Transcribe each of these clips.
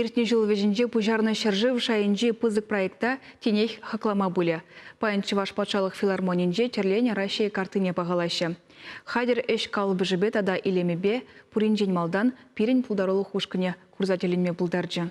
Иртнӗ ҫул вӗҫӗнче пуҫарнӑ ҫӗршыв шайӗнчи пысӑк проекта тинех хаклама пулӗ. Паян Чӑваш патшалӑх филармонинче тӗрленӗ Раҫҫей картине пахалаҫҫӗ. Хатӗр ӗҫ калӑпӑшӗпе тата илемӗпе пуринчен малтан пирӗн пултарулӑх ушкӑнӗ курса тӗлӗнме пултарчӗ.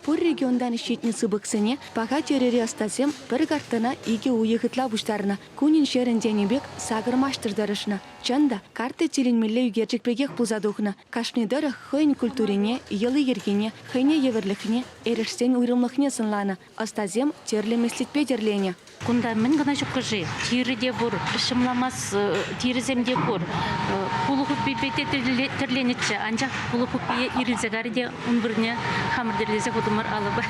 Пур регионтан ҫитнӗ сыпӑксене паха тӗрӗри ӑстасем пӗр картана икӗ уйӑх ытла пуҫтарнӑ. Кунӗн-ҫӗрӗн тенӗ пек сакӑр маҫтӑр тӑрӑшнӑ. Чӑн та, карта тӗлӗнмелле ӳкерчӗк пекех пулса тухнӑ. Кашни тӑрӑх хӑйӗн культурине, йӑли-йӗркине, хӑйне евӗрлӗхне, эрешсен уйрӑмлӑхне сӑнланӑ. Ӑстасем тӗрлӗ меслетпе тӗрленӗ. Кунта мӗн кӑна ҫуккӑ-ши? Тирӗ те пур, ҫӑмламас тирӗсем те пур. Пулӑ хуппипе те тӗрленӗччӗ, анчах пулӑ хуппийӗ ирӗлсе карӗ те ун вырӑнне хамӑр тӗрлесе хутӑмӑр алӑпа.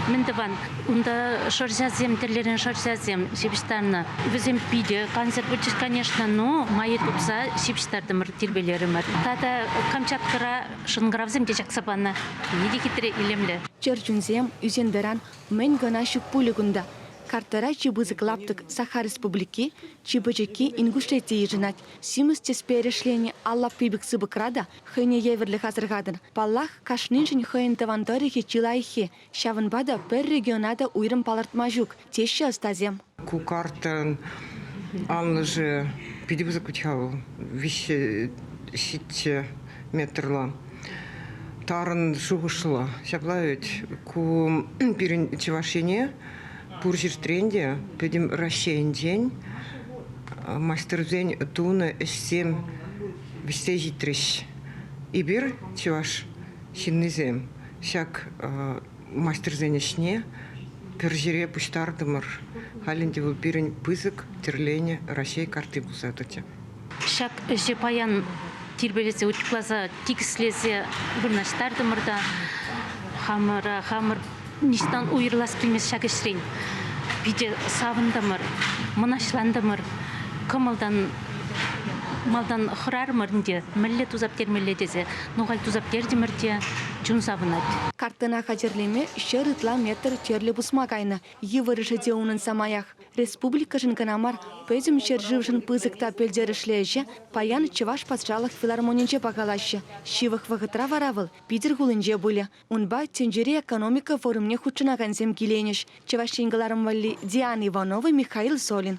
Мӗн тӑван? Унта шӑрҫасем, тӗрлӗрен шӑрҫасем ҫыпӑҫтарнӑ. Вӗсем питӗ кансӗр пулчӗҫ, конечно. Ну, майӗ тупса ҫыпӑҫтартӑмӑр, тирпейлерӗмӗр. Тата Камчаткӑра Шӑнкӑравсем те чакса панӑ. Питӗ хитре, илемлӗ. Чӗрчунсем, ӳсентӑран мӗн кӑна ҫук пулӗ кунта! Картара чи пысӑк лаптӑк Саха Республики, чи пӗчӗкки Инкушлет те йышӑнать. Симӗс тӗспе эрешленӗ ал лаппи пек сыпӑкра та хӑйне евӗрлӗх асӑрхатӑн. Паллах, кашниншӗн хӑйӗн тӑван тӑрӑхӗ чи лайӑххи. Ҫавӑнпа та пӗр региона та уйрӑм палӑртма ҫук, теҫҫӗ ӑстасем. Ку картӑн анлӑшӗ питӗ пысӑк вӗт-ха вӑл, виҫҫе ҫиччӗ метрлӑ. Тарӑн шухӑшлӑ. Ҫапла вӗт. Ку пирӗн Чӑваш Ене пур ҫӗртрен те, пӗтӗм Раҫҫейӗнчен маҫтӑрсен тунӑ ӗҫсем вӗҫсе ҫитрӗҫ. Эпир, чӑваш Ҫыннисем ҫак мастерсен ӗҫне пӗр ҫӗре пуҫтартӑмӑр. Халь ӗнтӗ вӑл пирӗн пысӑк тӗрленӗ Раҫҫей карти пулса тӑчӗ. Ҫак ӗҫе паян тирпейлесе, утюгласа, тикӗслесе вырнаҫтартӑмӑр та хамӑра хамӑр Ниҫтан уйӑрлас килмест ҫак ӗҫрен. Питӗ савӑнтӑмӑр, мӑнаҫлантӑмӑр, кӑмӑлтан малтан хӑрарӑмӑр ӗнтӗ, мӗнле тусап-термелле тесе. Ну, халь тусап-тертӗмӗр те, чун савӑнать. Картина хатӗрлеме ҫӗр ытла метр тӗрлӗ пусма кайнӑ. Йывӑрӑшӗ те унӑн самаях. Республикӑшӑн кӑна мар, пӗтӗм ҫӗршывшӑн пысӑк та пӗлтерӗшлӗ ӗҫе паян Чӑваш патшалӑх филармонинче пахалаҫҫӗ. Ҫывӑх вӑхӑтра вара вӑл Питӗр хулинче пулӗ. Унпа тӗнчери экономика форумне хутшӑнакансем киленӗҫ, Чӑваш Ен кӑларӑм валли Диана Иванова, Михаил Солин.